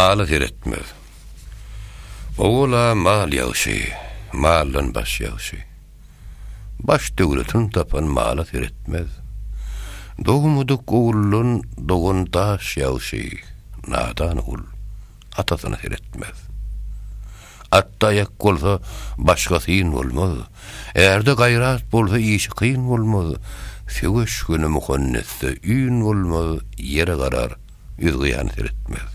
Mala seretmez. Owala mal ýagşy, maldan baş ýagşy. Baş döwletini tapan mala seretmez. Dogmadyk oguldan dogan daş ýagşy, nadan ogul atasyna seretmez. Atda aýak bolsa, başga syn bolmaz. Ärde gaýrat bolsa, işi kyn bolmaz. Söweş güni muhannetde ün bolmaz, ýere garar. Ýüzgyýany seretmez.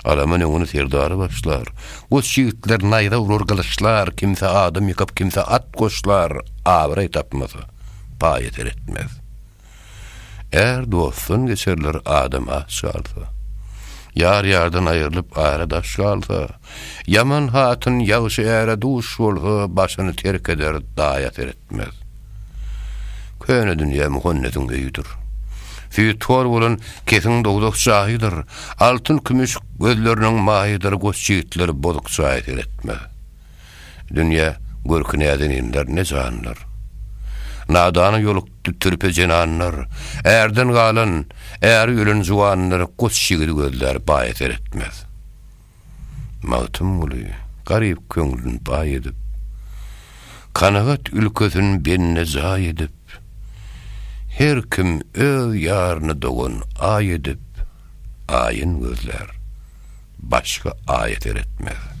Alaman öňüni serdary başlar. Goç ýigitler naýza urar gylyçlar, kimse adam ýykap, kimse at goşlar, abraý tapmasa, paýa seretmez. Är dostdan geçerler adam aç galsa. Ýar ýardan aýrylyp ara daş galsa, ýaman hatyn ýagşy äre duş bolsa, başyny terk eder daýa seretmez. etmez. Köne dünýä Muhannesiň öýüdir. Süýtgor bolan kesiň dowzah jaýydyr, altyn-kümüş gözleriniň maýydyr goç ýigitler bozuk jaýa seretmez. Dünýä görki näden inler ne janlar. Nadana ýolukdy türpe zenanlar, ärden galan, äri ölen juwanlar goç ýigidi gözlär baýa seretmez. Magtymguly garyp köňlün baý edip, Kanagat ülkesin bende jaý edip, Her kim öz ýaryny dogan Aý edip, Aýyn gözlär, başga Aýa seretmez.